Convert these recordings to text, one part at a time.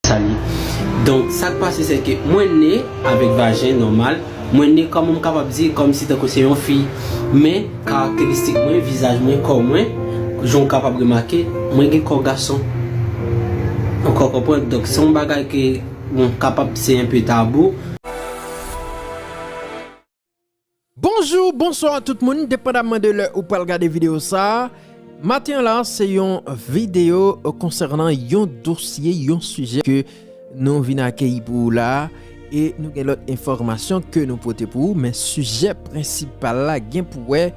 Sa li. Donk sak pase se ke mwen ne avèk vajen nòmal, mwen ne kòman m kapab di kòm si tankou se yon fi. Men karakteristik mwen, vizaj mwen, kò mwen, jan w kapab remake, mwen gen kò gason. Ou ka konprann? Donk se yon bagay ke bon kapab se enpe tabou. Bonjour, bonsoir tout moun, depandamman de lè ou pral gade video sa, maten an la se yon video konsènan yon dosye, yon sijè ke nou vin akeyi pou ou la e nou gen lòt enfòmasyon ke nou pote pou ou men sijè prensipal la gen pou wè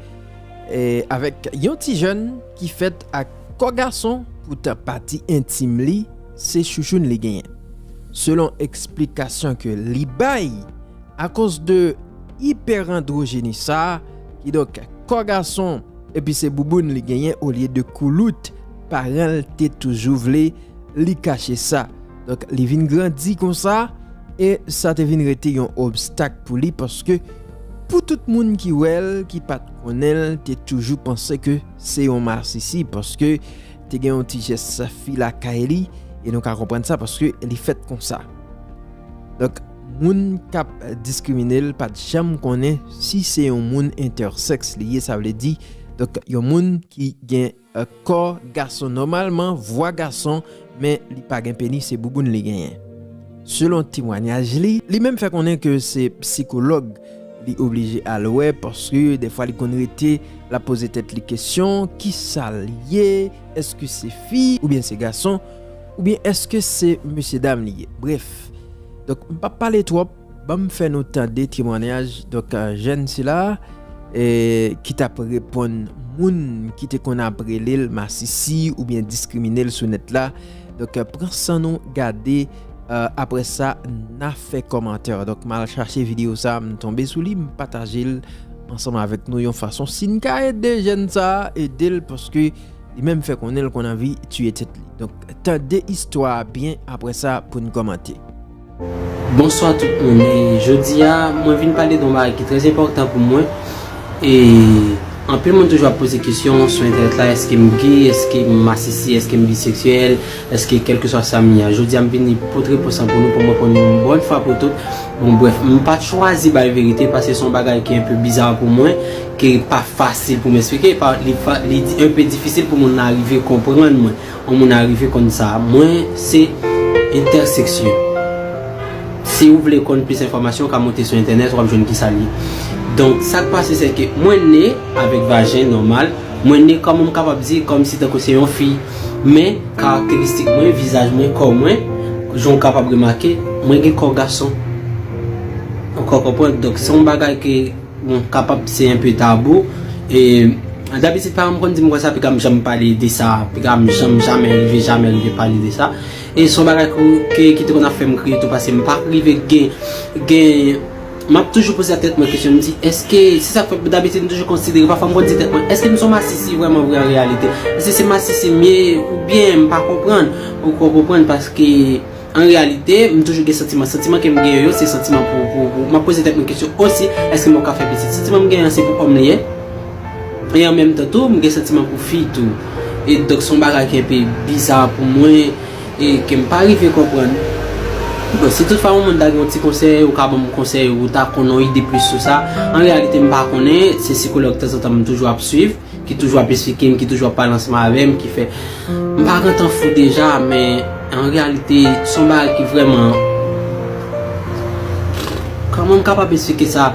avèk yon ti jèn ki fèt ak kò gason pou ta pati entim li se chouchoun li genyen selon eksplikasyon ke li bay. Akoz de ipèrandrojeni sa, kidonk kò gason epi se bouboun li genyen olye de koulout, paran l te toujou vle li kache sa. Donk li vin grandi konsa e sa te vin rete yon obstak pou li paske pou tout moun ki wè l ki pa t konnen l te toujou panse ke se yon masisi paske te gen yon ti jès fi lakay li e nou ka konprann sa paske li fèt konsa. Donk. Moun kap diskriminel pat janm konnen si se yon moun entèsèks li ye sa vle di donk yon moun ki gen kò gason nòmalman vwa gason men li pa gen penis se bouboun li genyen selon temwanyaj li. Li menm fè konnen ke se psikològ li oblije al wè paske defwa li konn rete lap poze tèt li kesyon kisa li ye eske se fi oubyen se gason Oubyen eske se mesye dam li ye? Bref, donk m pap pale twòp, banm fè nou tande temwanyaj donk jèn sila a ki t ap reponn moun ki te konn ap rele l masisi oubyen diskrimine l sou nèt la. Donk pran san nou gade aprè sa n a fè kòmantè. Donk m al chache videyo sa a, m tonbe sou li, m pataje l ansanm avèk nou yon fason si n ka ede jèn sa a ede l paske. Li menm fè konnen l konn anvi tiye tèt li. Donk tande istwa a byen aprè sa pou n kòmante. Bonswa tout moun e jodi a mwen vin pale de yon bagay ki trè enpòtan pou mwen e anpil moun toujou ap poze kesyon sou entènèt la eske m ge eske m masisi eske m biseksyèl eske kèlkeswa sa m ye a jodi a m vini pot repons lan pou nou pou m reponn nou yon bòn fwa pou tout bon brèf m pa chwazi bay verite paske se yon bagay ki enpe biza pou mwen Ke li pa fasil pou m esplike, li un peu difisil pou moun arive konprann mwen, yon moun arive konn sa mwen se entèseksyon. Si ou vle konn plis enfòmasyon ou ka monte sou entènèt wap jwenn kisa li ye. Donk sa k pase se ke mwen ne avèk vajen nòmal, mwen ne kòman m kapab di kòm si tankou se yon fi. Men karakteristik mwen, vizaj mwen, kò mwen, jan ou kapab remake, mwen gen kò gason. Ou ka konprann? Donk se yon bagay ke. Bon, kapab se enpe tabou. E, dabitid paran m konn di m konsa piga m janm pale de sa. Piga m janm, jamè, rive jamè rive pale de sa. E son bagay kou, ke, ki te konn ap fè m kriye tou pase m pa rive gen, gen, m ap toujou poze a tèt mwen kesyon m di èske, se sa k fè dabitid m toujou konsidere pafwa m konn di tèt mwen èske m son masisi vrèman vre an reyalite? Èske se masisi m ye oubyen m pa konprann? Ou konprann paske. An reyalite, m toujou gen santiman. Santiman ke m genyen yo, se santiman pou, pou, pou, m ap poze tèt mwen kesyon osi, èske mwen ka fè pitit? Santiman m genyen an, se pou òm li ye. E an menm tan tou, m gen santiman pou fi tou. E donk se yon bagay ki enpe biza pou mwen, e ke m pa rive konprann. Bon, si tout fwa yon moun ta gen yon ti konsèy, ou ka ban m konsèy, ou ta konn yon ide plis sou sa. An reyalite m pa konnen, se sikològ tanzantan m toujou ap swiv. Ki toujou ap esplike m, ki toujou ap pale ansanm avè m, ki fè m pa gentan fou deja, men an reyalite se yon bagay ki vrèman, kòman m kapab esplike sa,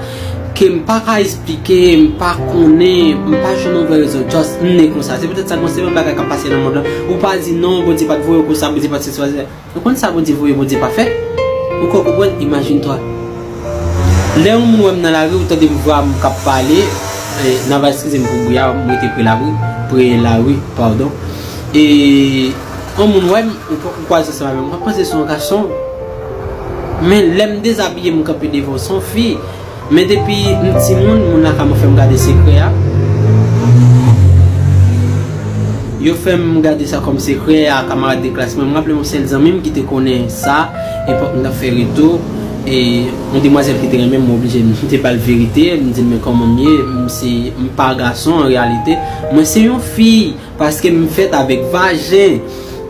ke m pa ka esplike, m pa konnen, m pa jwenn yon vrè rezon, just m ne konsa. Se petèt sa, gon seri bagay k ap pase nan mond lan, ou pa di non, Bondye pa t voye w konsa, Bondye pa t sesi, pa t sela. Nou konn sa Bondye voye Bondye pa fè ou ko konprann imagine toi lè yon moun wèm nan lari ou tandem vwam kap pale nan va eskizem pou bri a m rete pre labri pre lari pardon e yon moun wèm ou kwaze ansanm avèm wap panse son gason men lèm dezabiyem kanpe devanw son fi. Men depi m timoun moun lakay mwen fèm gade sekrè a yo fèm gade sa kòm sekrè a kamarad de klas mwen m raplem yon sèl zanmim ki te konnen sa epòk m tap fè reto e yon demwazèl ki te renmenm mwen oblije m te bal verite m dil men kòman m ye m se m pa gason an reyalite mwen se yon fi paske m fèt avèk vajen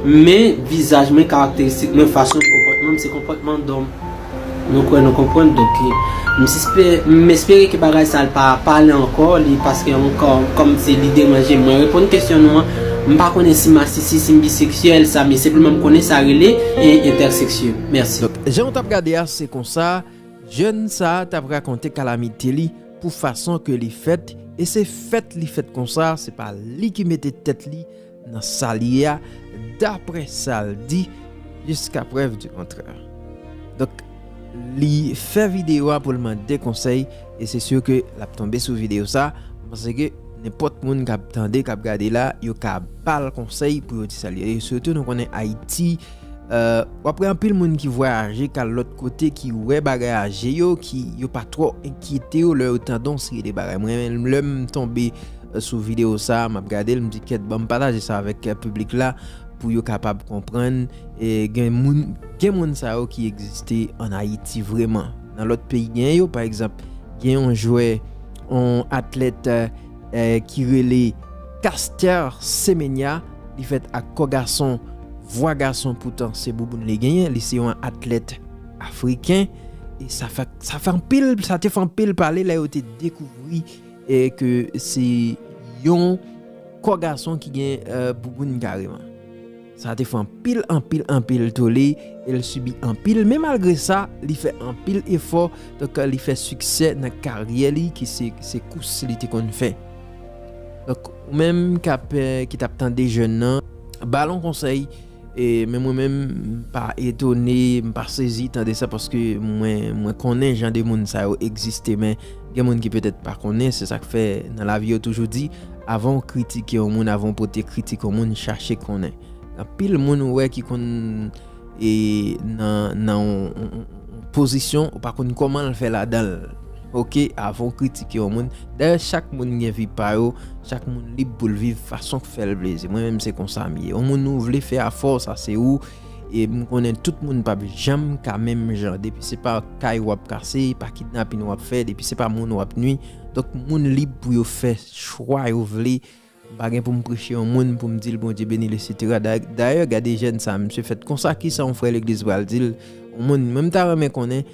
men vizaj mwen karakteristik mwen fason konpòtman m se konpòtman dòm. Nou kwè nou konprann donk li. M espere ke bagay sa l pa pale ankò li paske ankò kòm se li deranje mwen reponn kesyon nou an m pa konnen si masisi si m biseksyèl sa mi senpleman m konnen sa rele entèseksye mèsi. Donk jan ou tap gade a se konsa jèn sa tap rakonte kalamite li pou fason ke li fèt e se fèt li fèt konsa se pa li ki mete tèt li nan sa l ye a daprè sa l di jiska prèv di kontrè. Donk li fè videyo a pou l mande konsèy e se sur ke l ap tonbe sou videyo sa m panse ke nenpòt moun k ap tande k ap gade la yo ka ba l konsèy pou yo di sa l ye sitou nou konnen Ayiti w ap wè anpil moun ki vwayaje k al lòt kote ki wè bagay a je yo ki yo pa twò enkyete yo lè yo tande yon seri de bagay mwen menm lè m tonbe sou video sa map gadel m di kèt banm pataje sa avèk piblik la pou yo kapab konprann gen moun gen moun sa yo ki egziste an ayiti vreman nan lòt peyi gen yo pa egzanp gen yon jwè yon atlèt ki rele Caster Semenya li fèt ak kò gason vwa gason poutan se bouboun li genyen li se yon atlèt afriken sa fè anpil sa te fè anpil pale lè yo te dekouvri E ke se yon kò gason ki gen bouboun kareman. Sa te fè anpil, anpil, anpil tole e l sibi anpil. Men malgre sa, li fè anpil efò. Donk, li fè siksè nan karyè li ki se kous li te konn fè. Donk, ou menm ki t ap tande jèn nan, ba l yon konsèy. E men mwen menm m pa etone, m pa sezi tande sa paske mwen konnen jan de moun sa yo egziste men gen moun ki petèt pa konnen se sak fè nan lavi yo toujou di avan w kritike yon moun avan w pote kritik yon moun chache konnen. Anpil moun ou wè ki konn e nan yon pozisyon ou pa konn kòman l fè ladan l. Ok avan w kritike yon moun. Dayè chak moun gen vi pa yo, chak moun lib pou l viv fason k fè l plezi. Mwen menm se konsa m ye. Yon moun ou vle fè afè w sa se ou. E m konnen tout moun pap janm ka menm jan. Depi se pa kay w ap kase, pa kidnapin w ap fè, depi se pa moun w ap nui. Donk moun lib pou yo fè chwa yo vle. M pa gen poum preche yon moun poum dil Bondye benil etc. Dayè gade jèn sa misye fèt konsa kisa yon frè legliz pral dil yon moun mwen ta renmen konnen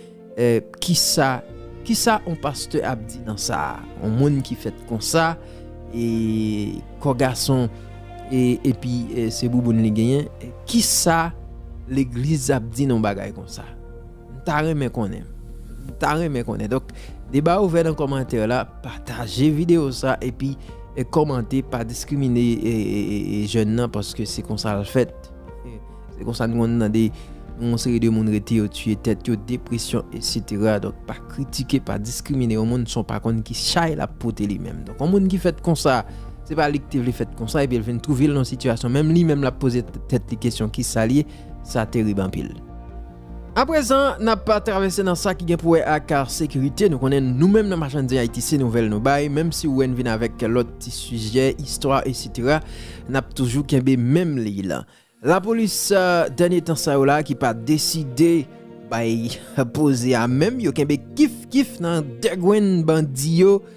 kisa kisa yon pastè ap di nan sa yon moun ki fèt konsa e kò gason epi se bouboun li genyen kisa legliz ap di nan bagay konsa. M ta renmen konnen. M ta renmen konnen. Donk, deba a ouvè nan kòmantè la. Pataje videyo sa epi kòmante. Pa diskrimine jèn nan paske se konsa l fèt. Se konsa n konn tande yon seri de moun rete yo tiye tèt yo, depresyon eksetera. Donk, pa kritike, pa diskrimine yon moun san w pa konn ki chay l ap pote li menm. Donk, yon moun ki fèt konsa, se pa li ki te vle fèt konsa epi l vin twouve l nan yon sitiyasyon menm li menm l ap poze tèt li kesyon ki sa l ye, sa terib anpil. A prezan, n ap travèse nan sa ki gen pou wè ak sekirite. Nou konnen nou menm nan Machann-Zen Ayiti se nouvèl nou bay, menm si ou wè n vin avèk lòt ti sijè, istwa esitera, n ap toujou kenbe menm liy lan. Lapolis dènye tan sa yo la ki pa deside bay poze a menm, yo kenbe kif kif nan degwenn bandi yo.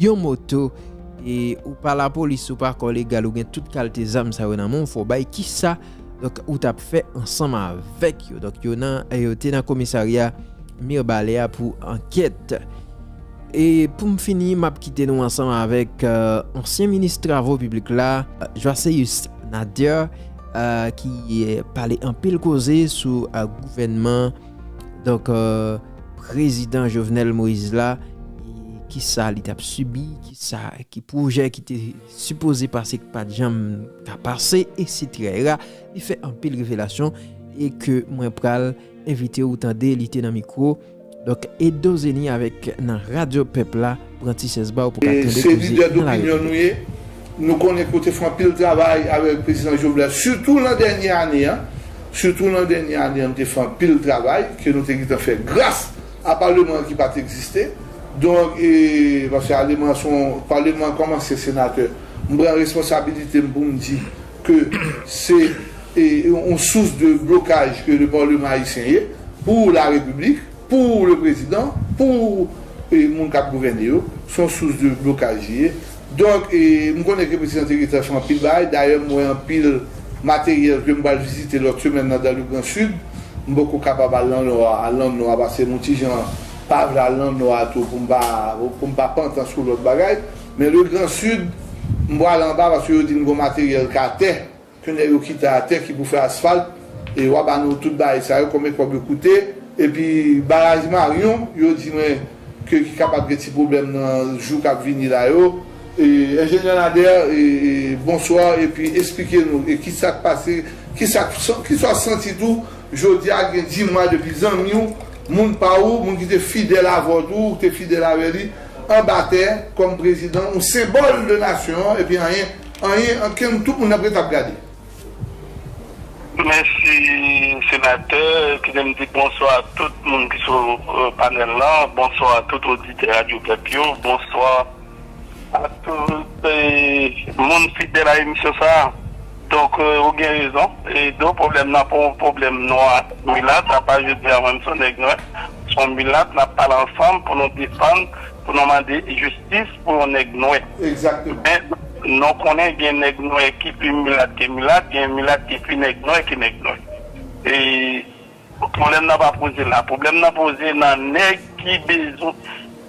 yon moto e ou pa lapolis ou pa kò legal ou gen tout kalte zam sa yo nan menw fò bay kisa donk ou tap fè ansanm avèk yo donk yo nan yo te nan komisarya mirbalè a pou ankèt e poum fini map kite nou ansanm avèk ansyen minis travo piblik la Joaceus Nader ki pale anpil koze sou gouvènman. Donk prezidan Jovenel Moïse la ki sa li tap subi, ki sa ki projè ki te sipoze pase ki pat janm ka pase e sitira era li fè anpil revelasyon e ke mwen pral envite ou tande li te nan mikro Donk Edo Zeni avèk nan radyo pèp la. Pran ti chèz ba ou pou ka tande Se koze lidè nan la dopinyon nou repiblik. ye. Nou konnen ke w te fè anpil travay avèk Prezidan Jovenel, sitou lan dènye ane an. Sitou lan dènye ane an nou te fè anpil travay ke nou te gentan fè gras a paleman an ki pa t egziste. Donk, paske aleman an se yon, paleman an kòm ansyen senatè, m pran responsabilite m pou m di ke se yon sous de blokaj ke le parlement haïtien ye pou la repiblik. Pou le prezidan, pou moun kap gouvène yo, se yon sous de blokaj li ye. Donk, m konnen ke prezidan te rete sou anpil bagay, dayè m wè anpil materyèl ke m pral vizite lòt semèn nan dan le gran Sid. M poko kapab al nan Nò a, al nan Nò a paske m yon ti jan pa vle al nan Nò a tou pou m pa, pou m pa pantan sou lòt bagay. Men le gran Sid, m pral anba paske yo di m gen yon materyèl k'atè. Pneu yo kite atè ki pou fè asfalt e wa ba nou tout bagay sa yo konbyen kob yo koute epi baraj marion yo di mwen ke ki kapab gen ti problèm nan jou kap vini la yo e enjenyè Nader e bonsoir epi esplike nou e kisak pase kisak kisa w santi tou jodia gen di mwa depi zanmi w moun pa ou moun ki te fidèl avè w tou ou te fidèl avè li anba tè kòm prezidan ou senbòl de nasyon an epi anyen Anyen an kem tout moun ap ret ap gade. Mèsi senatè kite m di bonswa a tout moun ki sou panèl lan bonswa a tout oditè radyo pèp yo bonswa a tout moun fidèl a emisyon sa a donk ou gen rezon e do pwoblèm nan pa yon pwoblèm nwa ak milat apa jodi a mwen m son nèg nwè son milat n ap pale ansanm pou nou defann pou nou mande jistis. pou yon nèg nwè. Men, nou konnen gen nèg nwè ki pi milat ke milat, gen milat ki pi nèg nwè ke nèg nwè. E, pwoblèm nan pa poze la. Pwoblèm nan poze nan nèg ki bezwen,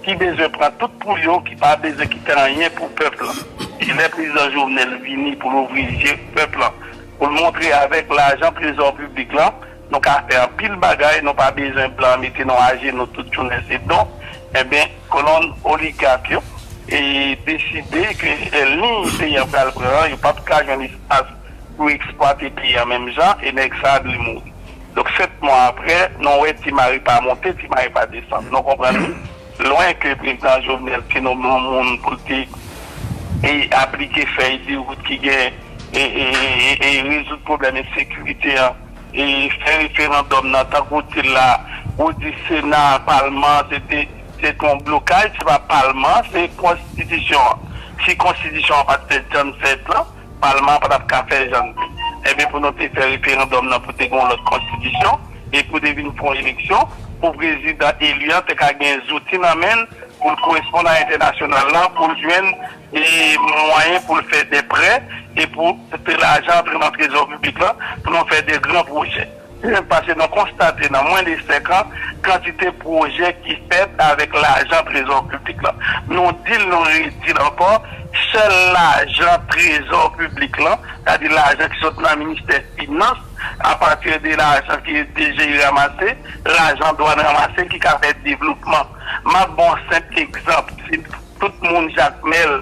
ki bezwen pran tout pou yo, ki pa bezwen kite anyen pou pèp lan. E lè Prezidan Jovenel vini pou l ouvri je pèp lan, pou l montre avèk lajan trezò piblik lan, Nou ka fè anpil bagay nou pa bezwen blan mete nou ajenou tout jounen se don enben kolonn oligak yo e deside ke liy peyi an pral pran an yo pap ka jwenn espas pou eksplwate peyi an menm jan e nèg sa dwe mouri donk 7 mwa aprè nou wè ti mari pa monte ti mari pa desann nou konprann wi lwen ke prezidan jovenel te nome yon moun pou l te aplike fèy de wout ki gen e rezoud pwoblèm ensekirite an. e fè referandòm nan tankou w di l la, ou di sena, palman se te se te yon blokaj, se pa palman se konstitisyon an, si konstitisyon an pa t fèt jan n fèt lan palman an pa t ap ka fèt jan n fèt, enben pou nou te fè referandòm nan pou te gen yon lòt konstitisyon e pou te vin fè yon eleksyon pou prezidan eli an te ka gen zouti nan men l pou l koresponn a entènasyonal lan pou l jwenn. e mwayen pou l fè dè prè e pou fè lajan antre nan trezò piblik lan pou nou fè dè gran pwojè. Dèzyèm, pase nou konstate nan mwen de 5 an kantite pwojè ki fèt avèk lajan trezò piblik lan. Nou di l, nou redi l ankò, sèl lajan trezò piblik lan, sa di lajan ki sot nan ministè finans a pati de lajan ke DGI ramase, lajan dwann ramase ki ka fè devlopman. M ap ba w senp egzanp. Tout moun jakmel,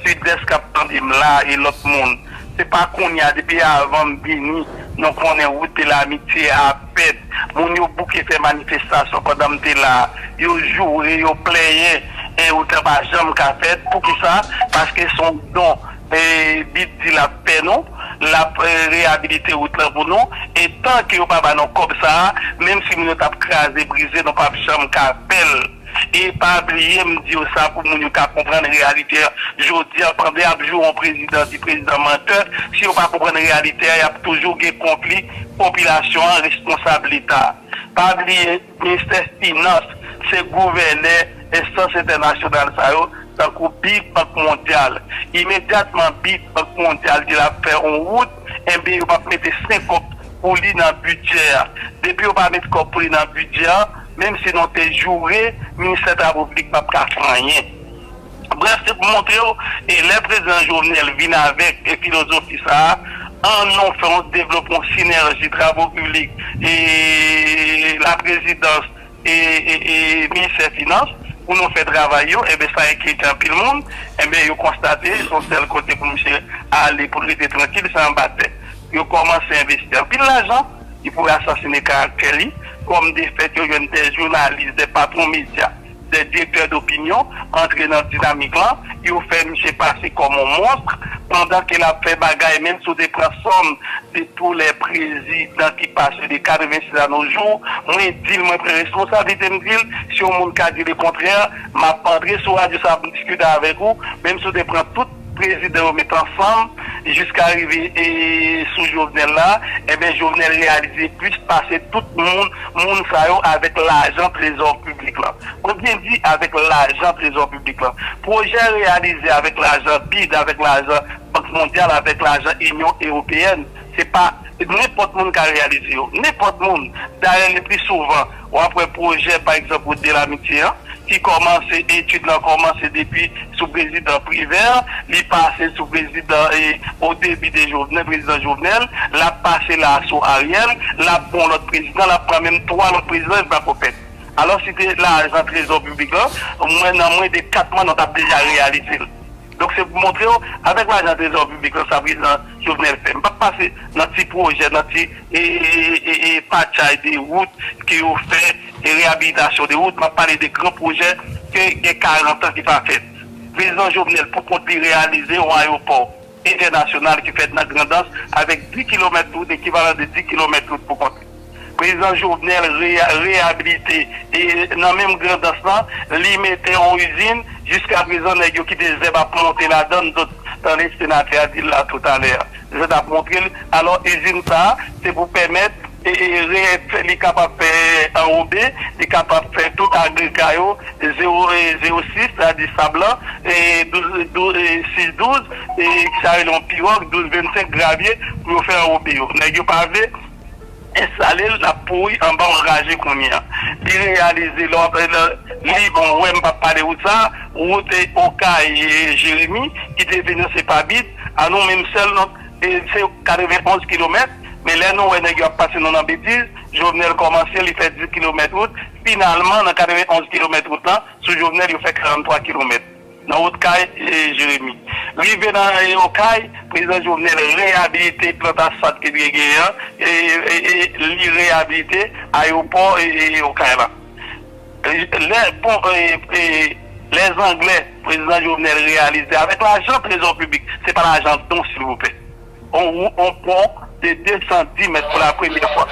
sud'est kap tandem la e lot moun. Se pa kounya depi avanm vini nou konnen rout de l'amitié a ap fèt. Moun yo bouke fè manifestasyon pandan m te la. Yo joure, yo plenyen e rout lan pa janm ka fèt. Poukisa? Paske son don BIDH di lap fè nou. Lap reyabilite rout lan pou nou. E tan ke yo pa ba nou kob sa a, menm si moun yo tap kraze brize nou pap janm ka fèl. E pa bliye m di w sa pou moun yo ka konprann reyalite an. Jodi an pandan y ap joure yon prezidan, di prezidan mantè, si yo pa konprann reyalite an y ap toujou gen konpli popilasyon an, responsab leta. Pa bliye ministè finans se gouvène enstans entènasyonal sa yo tankou bid, bank mondyal. Imedyatman bid, bank mondyal di l ap fè yon wout enben yo p ap mete 5 kòb pou li nan bidjè a. Depi yo pa met kòb pou li nan bidjè an. Menm si nou te joure, Ministè Travo Piblik pap ka fè anyen. Brèf, se pou montre w, e lè Prezidan Jovenel vin avèk filozofi sa a, an nou fè yon devlopman sinèji Travo Piblik e Laprezidans e Ministè Finans pou nou fè travay yo, enben sa enkyete anpil moun, enben yo konstate se yon sèl kote pou misye ale pou l rete trankil, se anba tè. Yo kòmanse envesti anpil lajan. ki pou asasine karaktè li, kòm de fèt yo jwenn dè jounalis, dè patwon medya, dè direktè dopinyon antre nan dinamik lan, yo fè misye pase kòm yon monstr, pandan ke lap fè bagay, menm si w te pran sòm de tou lè prezidan ki pase de 86 a no jou, mwen di l, mwen pran responsablite m di l, si yon moun ka di le kontrè, map antre sou radyo sa pou m diskite avèk ou, menm si w te pran tout. prezidan yo met ansanm jiska rive sou Jovenel la enben Jovenel reyalize plis pase tout moun moun sa yo avèk lajan trezò piblik lan mwen byen di avèk lajan trezò piblik lan pwojè reyalize avèk lajan bid avèk lajan bank mondyal avèk lajan inyon ewopeyèn se pa nenpòt moun ka reyalize yo nenpòt moun dayè lepli souvan W ap wè pwojè pa egzanp Route de l'Amitié an ki kòmanse, etid lan kòmanse depi sou prezidan Privert, li pase sou prezidan au début de Jovenel, prezidan Jovenel, l ap pase la a sou Ariel, l ap bon lòt prezidan, l ap pran menm 3 lòt prezidan e l pako fèt. Alò si te lajan trezò piblik lan, mwen nan mwen de 4 mwa nou t ap deja reyalize l. Donk se pou montre w avèk lajan trezò piblik lan sa prezidan Jovenel fè. M pap pase nan ti pwojè, nan ti patchay de wout ke yo fè, de reyabilitasyon de wout. M ap pale de gran pwojè ke gen 40 an ki pa fèt. Prezidan Jovenel pou kont li reyalize yon ayopò entènasyonal ki fèt nan Grandans avèk 10 kilomèt wout, ekivalan de 10 kilomèt wout pou kont li. Prezidan Jovenel reyabilite e nan menm grandans lan li mete yon izin jiskaprezan nèg yo kite zèb ap monte ladann zòt tande senatè a dil la toutalè a zèt ap montrel alò izin sa se pou pèmèt li kapab fè anrobe li kapab fè tout agrega yo zewo zewo sis sètadi sab lan douz sis douz sa yo rele yon piròg douz vennsenk gravye pou yo fè anrobe yo nèg yo pa vle. Enstale l lap pouri anba w anraje kounya li reyalize lè wap li bon wè m pap pale wout sa wout okay jeremi ki te vin an se pa bid a nou menm sèl nou se 91 kilomèt men lè nou wè nèg yo ap pase nou nan betiz jovenel kòmanse li fè 10 kilomèt wout finalman nan 91 kilomèt wout lan sou jovenel yo fè 43 kilomèt. Nan wout kay Jeremi. Rive nan anyen Okay, Prezidan Jovenel reyabilite plant asfalt ki t gen genyen an e li reyabilite ayewopò Okay la. Lè pon Lèzanglè Prezidan Jovenel reyalize avèk lajan trezò piblik, se pa lajan don silvouplè. Bon ou on pon de 210 mèt pou la premyè fwa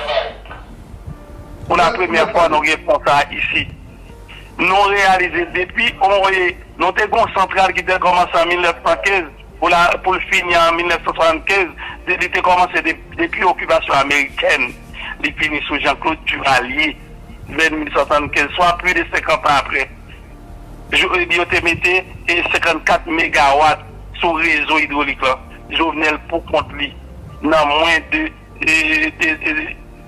pou la premyè fwa nou gen pon sa isi nou reyalize depi on e nou te gen on santral ki te kòmanse an 1915 pou la pou l fini an 1975 de li te kòmanse de depi okipasyon amerikèn li fini sou Janklod Divalye vè 1875 swa pli de 50 an aprè jou e yo te mete e 54 megawat sou rezo idwolik lan. Jovenel pou kont li nan mwen de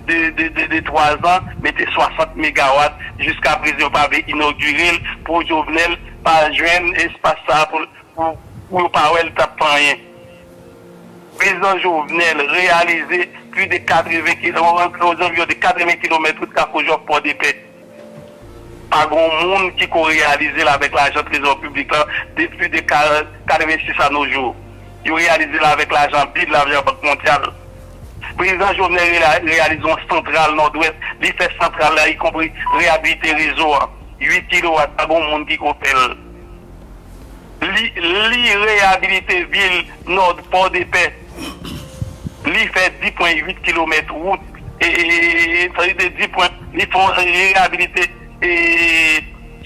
de 3 zan mete 60 megawat jiska prezan yo pa vle inogire l pou Jovenel pa jwenn espas sa pou pou yo pa wè l tap fè anyen Prezan Jovenel reyalize pli de 80 kilomèt wout Kafoujòf Pòdepè. Pa gon moun ki ko reyalize l avèk lajan trezò piblik lan depi de 86 a no jou. Yo reyalize l avèk lajan bid, lajan Bank Mondyal. Prezidan Jovenel reyalize yon santral Nòdwès, li fè santral la ikonpri reyabilite rezo an. 8 kilowat, pa gon moun ki ko fè l. Li reyabilite vil Nord Pòdepè, li fè 10 pwen 8 kilomèt wout, li reyabilite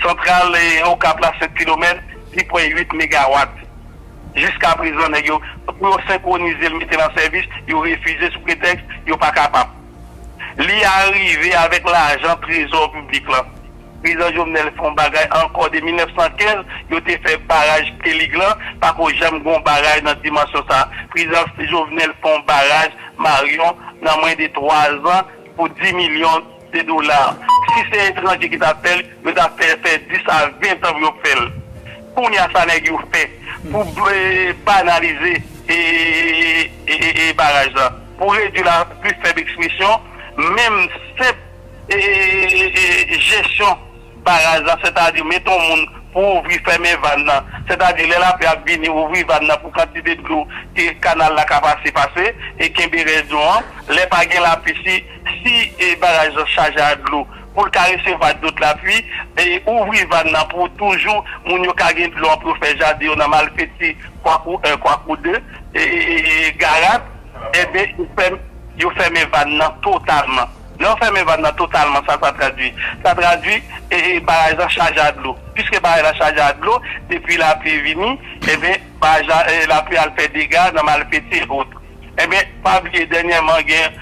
santral Okap la 7 kilomèt, 10 pwen 8 megawat. Jiska prezan nèg yo, pou yo senkwonize l mete l an sèvis, yo refize sou pretèks yo pa kapab. Li arive avèk lajan trezò piblik lan. Prezidan Jovenel fè yon bagay ankò de 1915 yo te fè baraj Pelig lan pako janm gen yon baraj nan dimansyon sa prezidan Jovenel fè yon baraj Marion nan mwen de 3 zan pou 10 milyon de dola si se etranje ki ta fèl yo ta fè l fè 10 a 20 tan pou yo fèl kounya sa nèg yo fè pou banalize ee baraj la pou redwi la pli fèb ekspresyon menm senp. Jesyon baraj la, sètadi mete yon moun pou ouvri fèmen vàn nan, sètadi lè lapli ap vini ouvri vàn nan pou kantite dlo ke kanal la ka pase pase e kenbe rès dlo an, lè pa gen lapli si si baraj lan chaje ak dlo pou l ka resevwa dot lapli e ouvri vàn nan pou toujou moun yo ka gen dlo an pou yo fè jaden yo nan malfeti kwakou 1 kwakou 2 e garat enben yo fèmen vàn nan totalman. Lè w fèmen vàn nan totalman, sa sa tradui? Sa tradui baraj la chaje a dlo. Piske baraj la chaje a dlo, depi lapli vini, enben baraj la, lapli al fè dega nan Malfeti e ot. Enben, pa bliye dènyèman gen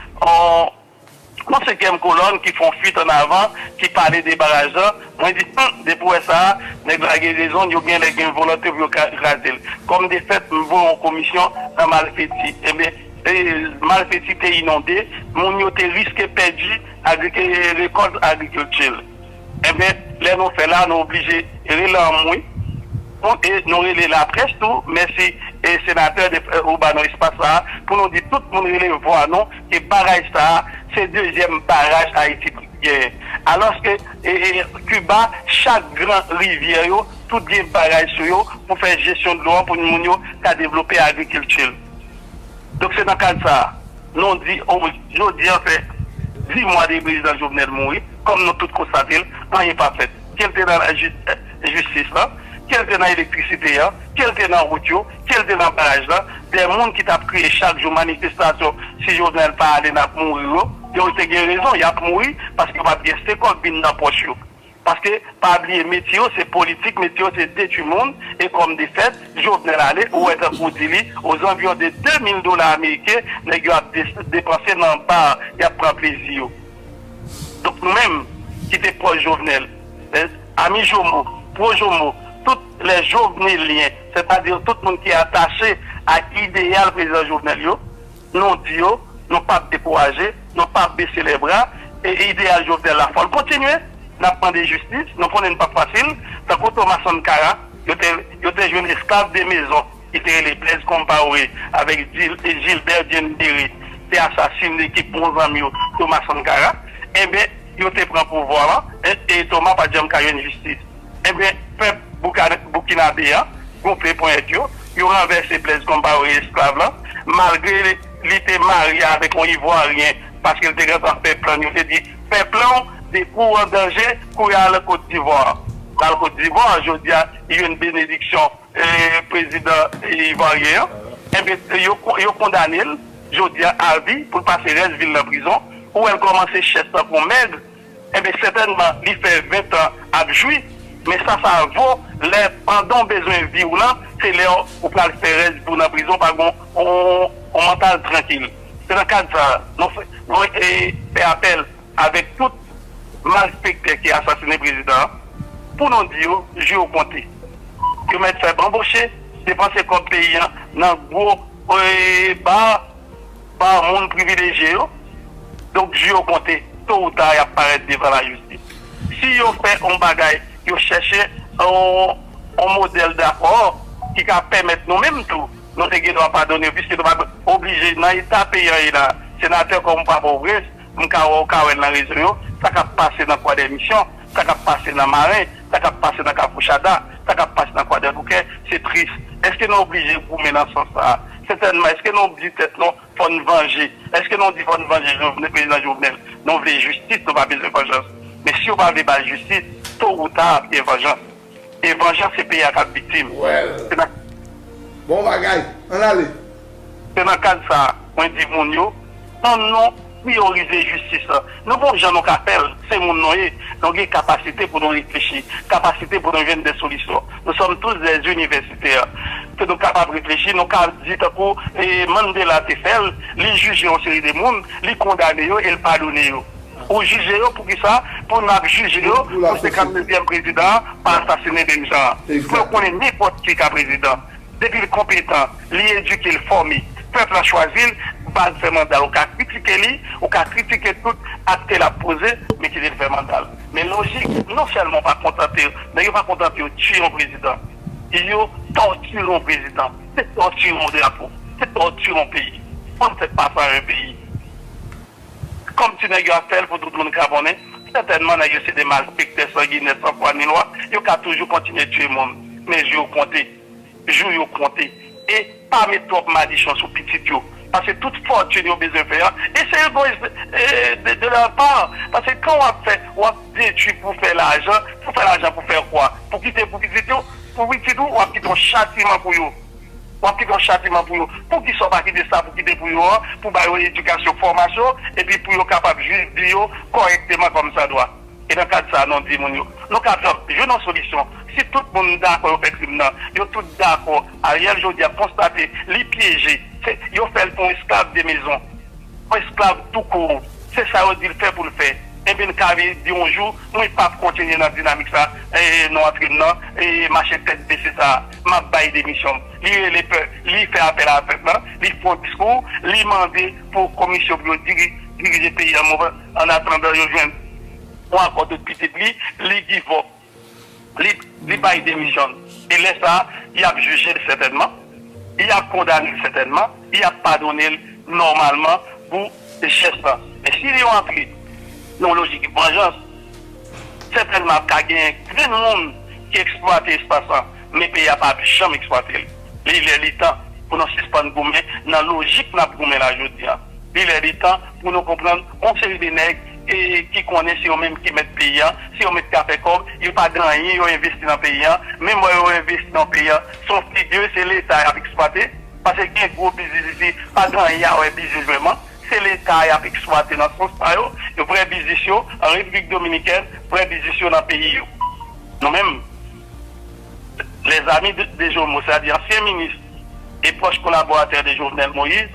yon senkyèm kolòn ki fè yon fuit an avan ki pale de baraj la. Mwen di, Hum! Depi w wè sa a, nèg la gen rezon, yo genlè gen volonte pou yo kraze l. Kòm de fèt, m voye yon komisyon nan Malfeti. Enben. Malpeti te inonde, moun yo te riske pèdi rekòt agrikilti l. Enben, lè nou fè la, nou oblije rele anmwe pou e nou rele laprès tou, mèsi senatè ou ba nou espas sa a pou nou di tout moun rele vwa nou ke baraj sa a se dezyèm baraj Ayiti genyen. Alòske Kiba chak gran rivyè yo tout gen baraj sou yo pou fè jesyon dlo an pou moun yo ka devlope agrikilti l. Donk se nan kad sa a nou di jodi an fè 10 mwa depi prezidan Jovenel mouri, kòm nou tout konstate l, anyen pa fèt. Ke l te nan jistis lan, ke l te nan elektrisite an, ke l te nan wout yo, ke l te nan baraj lan, dè moun ki t ap kriye chak jou manifestasyon si Jovenel pa ale n ap mouri yo, yo te gen rezon y ap mouri paske yo pa p gen sekonn bin nan pòch yo. Paske pa bliye metye yo se politik, metye yo se detwi moun e kòm defèt Jovenel ale ou wè tankou ou di li ozanviyon de 2000 dola ameriken nèg yo ap depanse nan bar yap pran plezi yo. Donk nou menm ki te pwòch Jovenel, les amis Jomo, pro Jomo, tout les joveneliens, sètadi tout moun ki atache ak ideyal prezidan Jovenel yo, Nou di yo, nou pap dekouraje, nou pap bese lèbra, e ideyal Jovenel la fòl kontinye. Nap mande jistis, nou konnen li pap fasil, tankou Thomas Sankara, yo te jwenn esklav de mezon ki te rele Blaise Compaoré avèk Gilbert Diendéré te asasine kèk bon zanmi yo Thomas Sankara, enben yo te pran pouvwa an, e Thomas pat janm ka jwenn jistis. Enben, pèp Boukinabe an gonfle ponyèt yo, yo ranvèse Blez Konpaore esklav lan, malgre li te marye avèk yon Ivwaryen, paske li te gen tan fè plan, yo te di, fè plan w, depi w an danje, kouri ale Kotdivwar. L al Kotdivwar, jodi a, li jwenn benediksyon prezidan Ivwaryen an. Enben, yo kondane l, jodi a, avi, pou l pase rès vi l nan prizon. Ou wè l kòmanse chèch tankou yon mèg, enben sètènman li fè ventan ap jwi, men sa sa vo lè pandanw bezwen viw lan se lè ou pral fè rès viw nan prizon pa gen yon mantal trankil. Se nan kad sa nou fè apèl avèk tout malfektè ki asasine prezidan an pou nou di yo jou yo konte. Yo mèt fè banboche, depanse kòb peyi an nan gwo bar. pa moun privilejye yo, donk di yo konte, to ou ta y ap parèt devan lajistis. Si yo fè yon bagay, yo chèche yon modèl dakò ki ka pèmèt nou menm tou, nou te gen dwa padone yo, piske nou pa oblije nan eta peyi an ye la, senatè Kòmou pa Pòtoprens. m ka wè w ka wè nan rezo yo, sa k ap pase nan Kwadèmisyon, sa k ap pase nan Maren, sa k ap pase nan Kafou Chada, sa k ap pase nan Kwadèboukè, se tris. Eske nou oblije goumen nan sans sa a? Sètènman. Eske nou di tèt nou fò n vanje? Eske nou di fò n vanje Jovenel, Prezidan Jovenel? Nou vle jistis, nou pa bezwen vanjans. Men si yo pa vle ba l jistis, to ou ta ap gen vanjans. E vanjans se peyi a kap viktim. Well. Se nan. Bon bagay. Ann ale. Se nan kad sa a, mwen di moun yo, an nou priyorize jistis lan. Nou gon jan nou ka fè l, se moun nou ye, nou gen kapasite pou nou reflechi, kapasite pou nou jwenn de solisyon. Nou sòm tous dè inivèsitè ke nou kapab reflechi, nou ka di tankou Mandela te fè l, li jije yon seri de moun, li kondane yo e l padone yo. Ou jije yo poukisa pou nap jije yo pou 59 yèm prezidan an pa asasine menm jan an pou yo konnen nenpòt ki ka prezidan depil konpetan li edike l fòme pèp la chwazil bal fè manda ou ka kritike li ou ka kritike tout akte lap poze men kite l fè mandal men lojik non sèlman pa kontante nèg yo pa kontante yo tiye yon prezidan yo tòtire yon prezidan se tòtire yon drapo se tòtire yon peyi fanm fèt pa fwa yon peyi. Kòm ti nèg yo ap fè l pou tout moun ka konnen, sètènman nèg yo se de malfektè sanginè san fwa ni lwa, yo ka toujou kontinye tiye moun. Men jou yo konte. Jou yo konte. E pa met twòp madichon sou pitit yo. Pase tout fòtin yo bezwen fè an, e se egoyis de lèr pa. Pase kan w ap fè, w ap detwi pou fè lajan. Pou fè lajan pou fè kwa? Pou kite pou pitit yo? Pou pitit ou, w ap kite yon chatiman pou yo. w ap kite yon chatiman pou yo. Poukisa w pa kite sa pou kite pou yo an, pou ba yo edikasyon, fòmasyon, epi pou yo kapab viv vi yo kòrèkteman kòmsadwa? E nan kad sa a, nou di moun yo, nou ka jwenn yon solisyon. Si tout moun dakò yo fè krim nan, yo tout dakò Ariel jodi a konstate li pyeje, se yo fè l pou yon esklav de mezon, yon esklav tou kour, se sa yo di l fè pou l fè, enben n ka vin di yon jou, mwen p ap kontinye nan dinamik sa a, nou antre m nan mache tèt bese sa a. Map bay demisyonm. Li rele pè, li fè apèl a pèp la, li fon diskou, li mande pou komisyon pou yo dirije peyi an move an atandan yo jwenn yon akò de pitit li, li give up, li bay demisyonn. E lè sa a, yap jije l sètènman, yap kondane l sètènman, yap padone l nòmalman pou. Richès lan. Men si li yon antre nan yon lojik vanjans, sètènman ap ka gen grenn moun ki eksplwate espas lan, men peyi a pa ap janm eksplwate l. Li lè li tan pou nou sispann goumen nan lojik n ap goumen la jodi a. Li lè li tan pou nou konprann yon seri de nèg ki konnen se yo menm ki mèt peyi a, se yo menm k ap fè kòb, yo pa gen anyen yo envesti nan peyi a, menm lè yo envesti nan peyi a, s on figi se Leta y ap eksplwate. Pase gen gwo bizniz isi, pa gen anyen a wè bizniz vrèman. Se leta a y ap eksplwate nan sans pa yo. Vrè biznis yo an Repiblik Dominikèn, vrè biznis yo nan peyi yo. Nou menm, les amis de Jomo, se ta di ansyen minis e pwòch kolaboratè de Jovenel Moïse,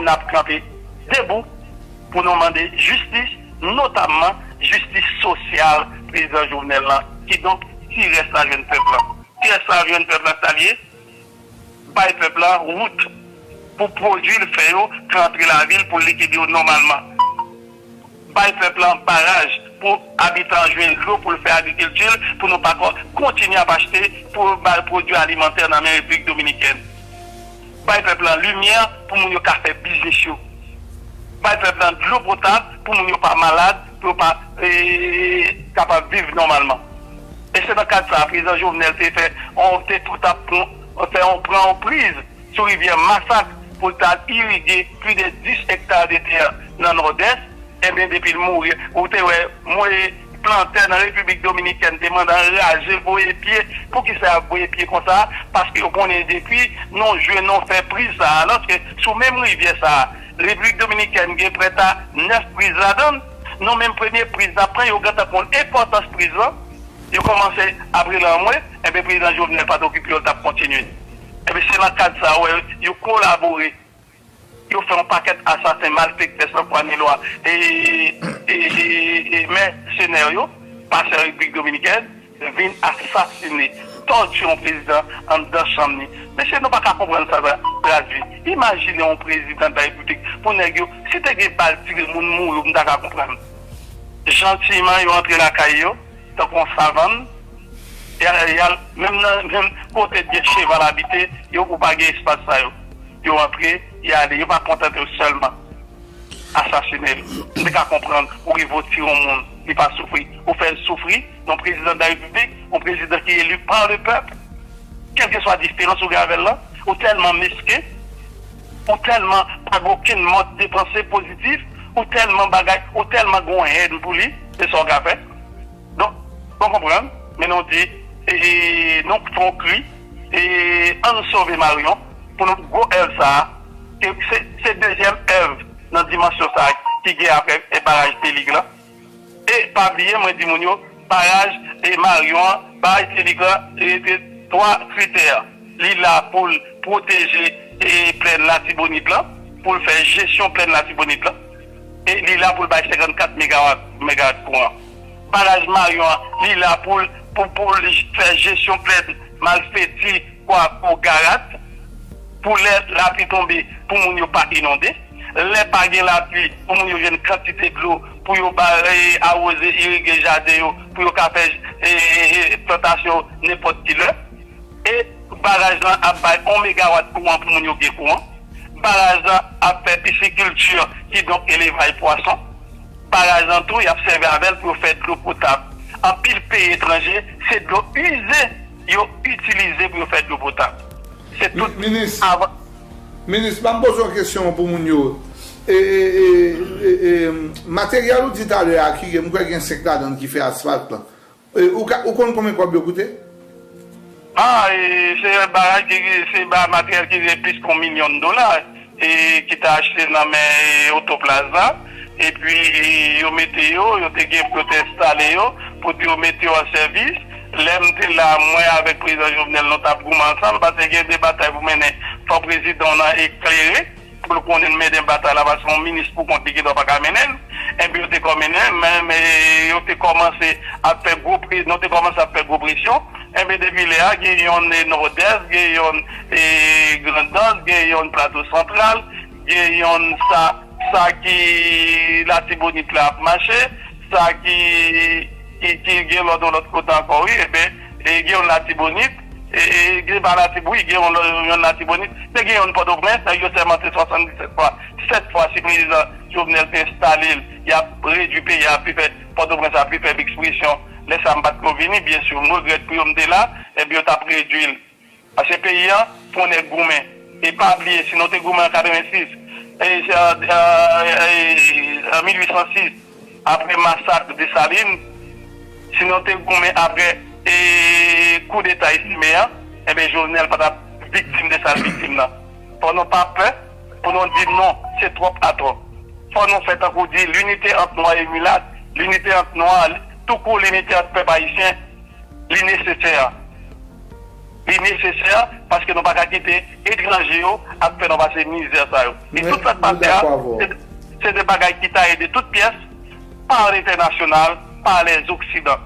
n ap kanpe debou pou nou mande jistis, notamman jistis sosyal prezidan Jovenel lan. Kidonk, ti rès la jwenn pèp lan. Ti rès la jwenn pèp lan sa l ye? bay pèp la wout pou pwodui l fè yo ka antre lavil pou l likide yo nòmalman, bay pèp la baraj pou abitan an jwenn dlo pou l fè agrikilti l pou nou pa ka kontinye ap achte pwodui alimantè nan men Repiblik Dominikèn, bay pèp la limyè pou moun yo ka fè biznis yo, bay pèp la dlo potab pou moun yo pa malad, pou yo kapab viv nòmalman. E se nan kad sa a Prezidan Jovenel te fè yon te pou ta fè yon pran yon priz sou rivyè Masak pou l ta al irige pli de 10 ekta de tè nan Nòdès. Enben depi l mouri ou te wè mwen plantè nan Repiblik Dominikèn te mande anraje voye pye. Poukisa y ap voye pye konsa? Paske yo konnen depi nou jwe nou fè priz sa a alòske sou menm rivyè sa a Repiblik Dominikèn gen prèta 9 priz ladan l. Non men premye priz nan pran yo gentan konn enpòtans priz lan yo kòmanse ap rele anmwe enben prezidan Jovenel pat okipe yo li tap kontinye enben se nan kad sa ou wè yo kolabore yo fè yon pakèt asasen malfektè san fwa ni lwa e e e mèsenè yo pasè repiblik dominikèn. vin asasine, tòtire yon prezidan anndan chanm li. Mesye nou pa ka konprann sa sa ap tradui. Imajine yon prezidan de la repiblik pou nèg yo, si te gen bal tire moun mouri ou m ta ka konprann. Jantiman yo antre lakay yo tankou yon savann, y al menm nan menm kote t gen cheval abite yo ou pa gen espas sa yo. Yo antre, y ale, yo pa kontante yo sèlman asasine l. M te ka konprann ou rive ou tire yon moun li pa soufri, ou fè l soufri. yon prezidan de la repiblik, yon prezidan ki eli pa le pèp, kèlkeswa diferans ou gen avè l lan, ou tèlman mesken, ou tèlman pa gen okenn mòd de panse pozitif, ou tèlman bagay, ou tèlman gen yon hèn pou li, se sa w ka fè. Donk, ou konprann, men nou di, nou fè yon kri, an nou sove Maryon pou nou gwo èv sa a, ke se dezyèm èv nan dimansyon sa a ki gen apre baraj Delig lan. E pa bliye mwen di moun yo paraj e maryon an bay Telegram rete 3 kritè li la poul pwoteje e plèn latibonit lan poul fè jesyon plèn latibonit lan e li la poul bay 54 megawat megawat kouran baraj maryon an li la poul pou poul fè jesyon plèn malfeti kwako garat pou lè lapli tonbe pou moun yo pa inonde. lè pa gen lapli pou moun yo jwenn kantite dlo pou yo awoze, irige jaden yo pou yo ka fè plantasyon nenpòt ki lè. E baraj lan ap bay 1 megawat kouran pou moun yo gen kouran. Baraj lan ap fè pisikilti, kidonk elevay pwason. Baraj lan tou y ap sèvi avè l pou yo fè dlo potab. Anpil peyi etranje se dlo ize yo itilize pou yo fè dlo potab. Se tout. Minis, banm poze yon kesyon pou moun yo. E materyèl ou di talè a ki mkwè gen 5 ladann ki fè asfalt lan. Ou konn konbyen kòb yo koute? A, se yon bagay ki se materyèl ki gen plis ke yon milyon dola ki te achte nan men Otoplaz la. epi yo mete yo, yo te gen pou yo te enstale yo, pou di yo mete yo an sèvis. Lè m te la, mwen avèk Prezidan Jovenel nou t ap goumen ansanm, pase gen de batay pou mennen, fò prezidan w nan eklere pou l konnen mennen batay la, pase yon minis pou kont li gen dwa pa ka mennen l. Enpi yo te kòminen, men yo te kòmanse ap fè gwo pre, nou te kòmanse ap fè gwo presyon. Enpi depi lè a, gen yonn Nòdès, gen yonn Grandans, gen yonn Plato Santral. Gen yonn sa sa ki latibonit la ap mache sa ki ki gen lòt yon lòt kote ankò wi eben gen yonn latibonit se pa latib wi gen yonn latibonit men gen yonn pòtoprens nèg yo sèmante 77 fwa 7 fwa si prezidan jovenel te enstale l yap redwi peyi a pi fè pòtoprens a pi fèb ekspresyon lè sa m pat ko vini byensi m regrèt pou yo m te la eben yo tap redwi l Pase peyi an pou nèg goumen e pa bliye si nou te goumen an 86 e 1806 apre masak Desalin, si nou te goumen apre kou deta Estime an enben Jovenel pa tap viktim de sal viktim nan. Fò nou pa pè pou nou di non se twòp a twòp. Fò nou fè tankou di linite ant nwa e milat, linite ant nwa, toukou linite ant pèp ayisyen li nesesè. Li nesesè paske nou pa ka kite etranje yo ap fè nou pase mizè sa yo. E tout sa k pase a, se de bagay ki taye de tout pyès pa lentènasyonal, pa lèzoksidan.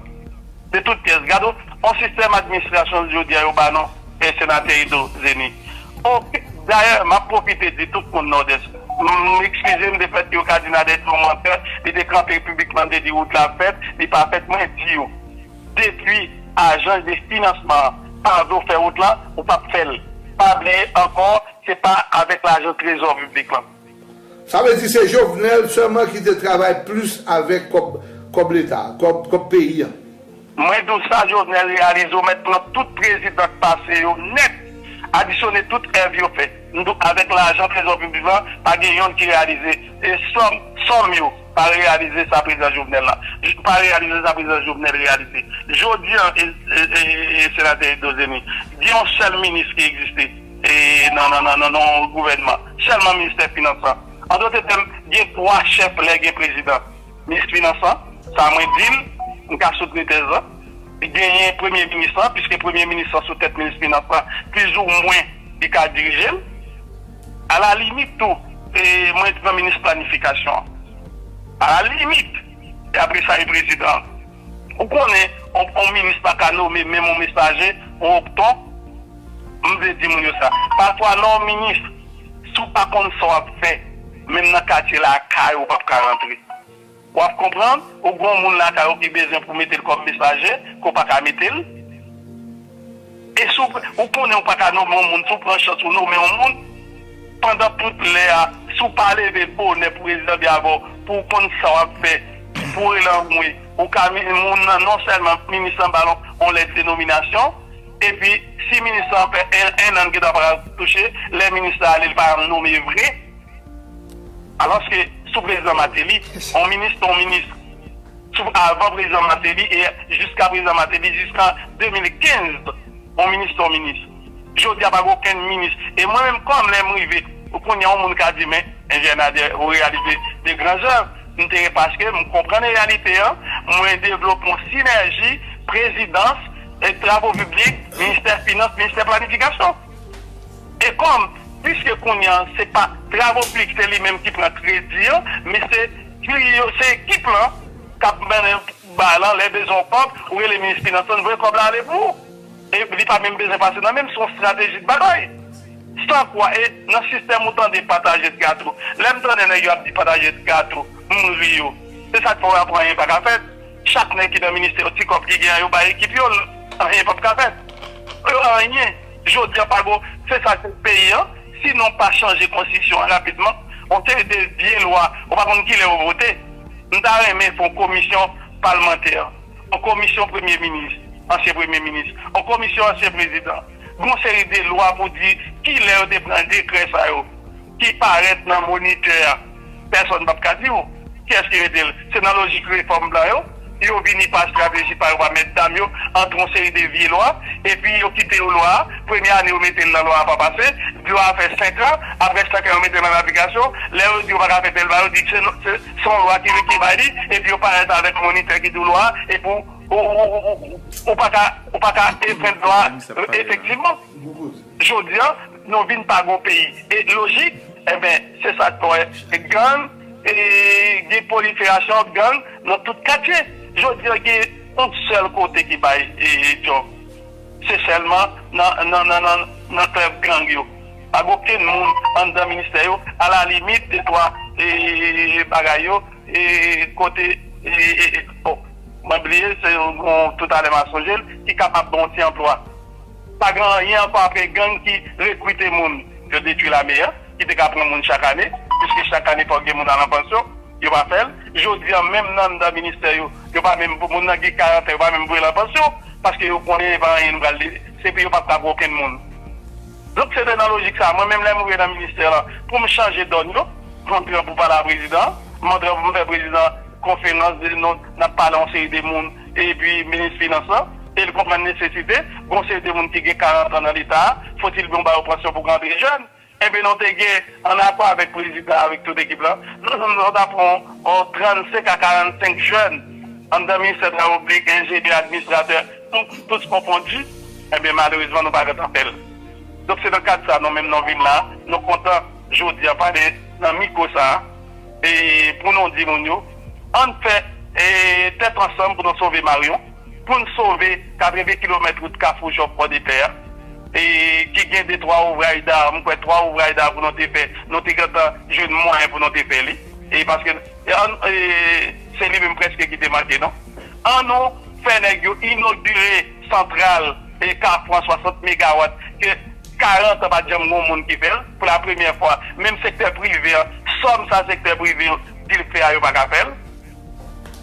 De tout pyès. Gad yon sistèm administrasyon jodi a yo ba nou, Senatè Edo Zenny. Dayè, m ap pwofite di tout moun Nòdès, m ekskize m de fèt yo ka di Nadège se yon mantè, li te kanpe piblikman, li te di wout la fèt, li pa fèt, mwen di yo, Depui ajans de finansman pa vle w fè wout lan, ou pap fè l. Pa bliye ankò se pa avèk lajan trezò piblik lan. Sa vle di se Jovenel sèlman ki te travay plis avèk kòb kòb leta, kòb peyi an. Mwen di w sa Jovenel reyalize w mèt pran tout prezidan k pase yo nèt, adisyone tout èv yo fè. M di w avèk lajan trezò piblik lan pa gen yonn ki reyalize sòm yo. Pa reyalize sa prezidan Jovenel la. Pa reyalize sa prezidan Jovenel reyalize. Jodi an senatè Eddo Zeny, gen yon sèl minis ki egziste nan yon gouvènman. Sèlman ministè finans lan. An dote tèm, gen 3 chèf lè gen prezidan. Minis finans lan, sa mwen di l, m ka soutni tèz lan. Genyen premye minis lan, piske premye minis lan sou tèt minis finans lan, plizoumwen li ka dirije l. A la limit tou, mwen t nan minis planifikasyon. A la limit, e apre sa e prezidan. Ou konnen, on minis pa ka nome menm on mesaje, on opton. M vle di moun yo sa. Pafwa nan on minis, si w pa konn sa w ap fè, menm nan katye lakay ou, ou p ap ka rantre. Wap konprann ou gon moun lakay ou ki bezwen pou metel kòm mesaje ke w paka metel e si w konnen ou paka nome yon moun si w pran chans ou nome yon moun pandan tout lè a si w pa leve bonè pou redi lanbi avè w pou w konn sa wap fè pou w rele anmwe ou ka moun nan non sèlman minis lan bal yon lèt de nominasyon epi si minis lan fè 1 an li gendwa paka touche lè minis la ale li pa janm nome vre. Alòske sou prezidan Mateli, yon minis se yon minis. Sou avan prezidan Mateli e jiska prezidan Mateli, jiskan 2015, yon minis se yon minis. Jodi a pa gen okenn minis. E mwen menm kòm lè m rive kounye a yon moun ka di men Enjenyè Nader ou reyalize de gran zèv. M te paske m konprann reyalite an, mwen devlope yon sinèji prezidans, travo piblik, ministè finans, ministè planifikasyon. E kòm, piske kounye an se pa Travauplik se li menm ki pran kredi an, men se jiri yo, se ekip lan k ap mennen ba lan, lè bezwen yon kòb, ou rele minis finans lan, l voye kòb la ale pou ou. E li pa menm bezwen pase nan men m, se yon strateji de batay. San kwa, e nan sistèm ou tande pataje de gato. Lè m tande nèg yo ap di pataje de gato, m ri yo. Se sa k fè w apre anyen pa ka fèt. Chak nèg ki nan ministè yo, ti kòb ki gen an yo bay ekip yo, anyen p ap ka fèt. Yo anyen. Jodi an pa gon se sa se peyi an si nou pa chanje konstitisyon an rapidman yon seri de vye lwa ou pa konn kilè yo vote m ta renmen fon komisyon palmantè yon komisyon premye minis ansyen premye minis yon komisyon ansyen prezidan gon seri de lwa pou di kilè yo te pran dekrè sa yo. ki parèt nan Monitè a, pèsòn pap ka di w kiyès ki rete l. Se nan lojik refòm blan yo, yo vini pa estrateji pa yo, pa mètdam yo, antre yon seri de vye lwa, epi yo kite yo lwa a, premye ane yo mete l nan lwa a pa pase, lwa a fè senkan, aprè senkan yo mete l an aplikasyon, lè yo di yo pa ka fè tèl bagay, yo di se yon lwa ki bay li, epi yo parèt avèk monitè ki di w lwa a, epi ou pa ka enfrenn lwa a efektivman. Jodi an nou vin pa gon peyi e lojik enben se sa k fè gang e gen pwoliferasyon gang nan tout katye. Jodi an gen yon sèl kote ki bay djòb se sèlman nan klèb gang yo. Pa gen okenn moun anndan ministè yo alalimit detwa bagay yo kote bon mwen bliye se yon toutalè m ap sonje l ki kapab ban yon ti anplwa. Pa gen anyen ankò apre gang ki rekrite moun. Yo detwi lame an ki te ka pran moun chak ane, piske chak ane fòk gen moun al an pansyon. Yo pa fè l. Jodi an menm nan anndan ministè yo, yo pa menm, moun nan gen 40 an yo pa menm voye l an pansyon, paske yo konnen e pa anyen nou pral, se pou yo pa pran pou okenn moun. Donk se te nan lojik sa a, mwen menm lè m rive nan ministè lan, pou m chanje dòn yo, mwen pran pou pale a prezidan an, mwen pran pou m fè prezidan an konferans, di l non, n ap pale a yon seri de moun, epi minis finans lan, e li konprann nesesite gen yon seri de moun ki gen 40 an nan leta a, fotil bon ba yo pansyon pou rantre jèn, enben nou te gen an akò avèk prezidan avèk tout ekip lan, nou nou nou ta pran yon 35 a 45 jèn anndan ministè travo piblik, enjenyè, administratè, tous konfondi, enben malerezman nou pa gentan fè l. Donk se nan kad sa nou menm nou vin la, nou kontan jodi a pale nan mikwo sa a. pou nou di moun yo ann fè tèt ansanm pou nou sove Maryon, pou n sove 80 kilomèt wout Kafou Jòf Pòdepè a ki gen de twa ouvray da, m kwè twa ouvray da pou nou te fè, nou te gentan jwenn mwayen pou nou te fè li e paske se li menm prèske ki te manke nou. An nou fè nèg yo inogire. Santral e Kafou an 60 megawat ke 40 an pat janm gon moun ki fèl pou la premyè fwa menm sektè prive an sòm sa sektè prive an di l k fè a yo pa ka fèl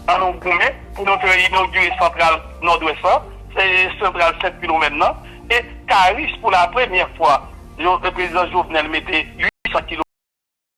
an nou goumen pou nou fè inogire santral nòdwès lan e santral 7 kilomèn nan e Karis pou la premyè fwa yo prezidan Jovenel mete 800 kilomèt.